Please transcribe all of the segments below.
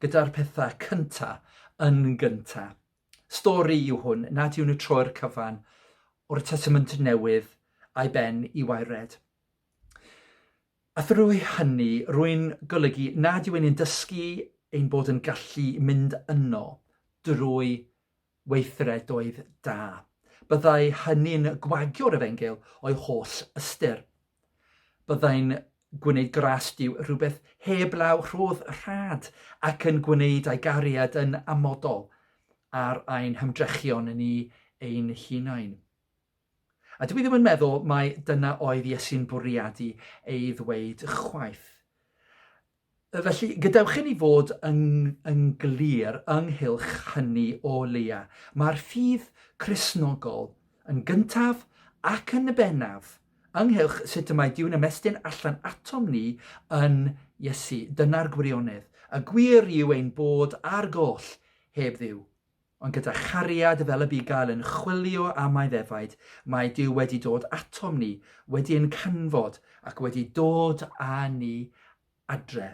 gyda'r pethau cynta yn gynta. Stori yw hwn nad yw'n y troi'r cyfan o'r Testament Newydd a'i ben i waered. A thrwy hynny, rwy'n golygu nad yw'n ein dysgu ein bod yn gallu mynd yno drwy weithredoedd da. Byddai hynny'n gwagio'r efengyl o'i holl ystyr. Byddai'n gwneud gras Duw rhywbeth heblaw rhodd rhad ac yn gwneud ei gariad yn amodol ar ein hymdrechion ni ein hunain. A dwi ddim yn meddwl mai dyna oedd Iesu'n bwriadu ei ddweud chwaith. Felly, gadewch i ni fod yn, yn glir ynghylch hynny o leia'. Mae'r ffydd Cristnogol, yn gyntaf ac yn bennaf, ynghylch sut y mae Duw'n ymestyn allan atom ni yn Iesu. Dyna'r gwirionedd. Y gwir yw ein bod ar goll heb Dduw. Ond gyda chariad fel y bugail yn chwilio am ei ddefaid, mae Duw wedi dod atom ni, wedi ein canfod ac wedi dod â ni adre.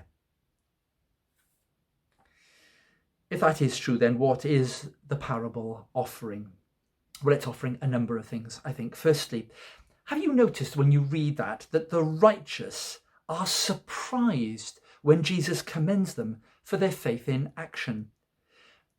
If that is true, then what is the parable offering? Well, it's offering a number of things, I think. Firstly, have you noticed when you read that, that the righteous are surprised when Jesus commends them for their faith in action?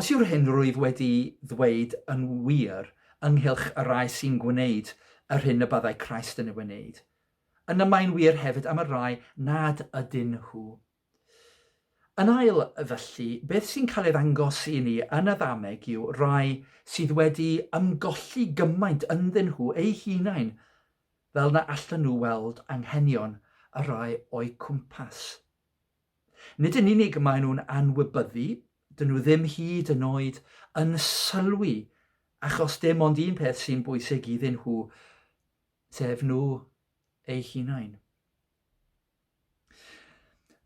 Os yw'r hyn rwyf wedi ddweud yn wir ynghylch y rhai sy'n gwneud yr hyn y byddai Christ yn ei wneud, yna mae'n wir hefyd am y rhai nad ydyn nhw. Yn ail, felly, beth sy'n cael ei ddangos i ni yn y ddameg yw rhai sydd wedi ymgolli gymaint ynddyn nhw eu hunain fel na allan nhw weld anghenion y rhai o'u cwmpas. Nid yn unig maen nhw'n anwybyddu, dyn nhw ddim hyd yn oed yn sylwi achos dim ond un peth sy'n bwysig iddyn nhw, sef nhw eu hunain.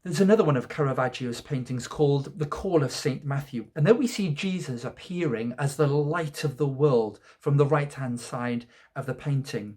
There's another one of Caravaggio's paintings called The Call of St. Matthew, and there we see Jesus appearing as the light of the world from the right hand side of the painting.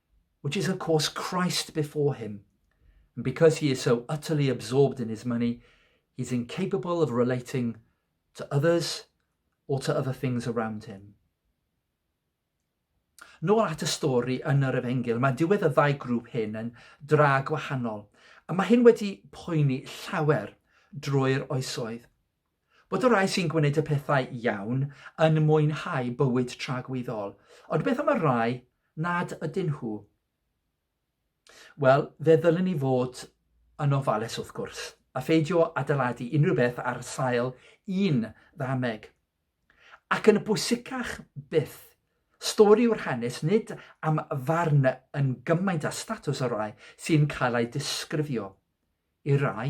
which is of course Christ before him. And because he is so utterly absorbed in his money, he's incapable of relating to others or to other things around him. Nôl at y stori yn yr efengil, mae diwedd y ddau grŵp hyn yn dra gwahanol, a mae hyn wedi poeni llawer drwy'r oesoedd. Bod y rhai sy'n gwneud y pethau iawn yn mwynhau bywyd tragwyddol, ond beth am y rhai nad ydyn nhw? Wel, fe ddylen ni fod yn ofalus wrth gwrs, a pheidio adeiladu unrhyw beth ar sail un ddameg. Ac yn bwysicach byth, stori yw'r hanes nid am farn yn gymaint a statws y rhai sy'n cael ei disgrifio. I rai,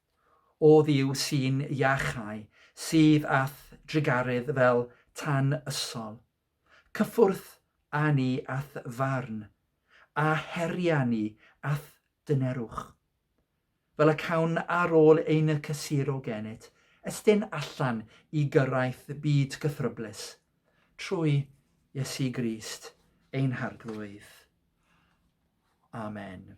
Oddi yw'r sîn iachau sydd â'th drugaredd fel tan ysol. Cyffwrdd â ni â'th farn, a heria ni â'th dynerwch. Fel y cawn ar ôl ein cysuro gennyt, estyn allan i gyrraeth byd cythryblus, trwy Iesu Grist ein Harglwydd. Amen.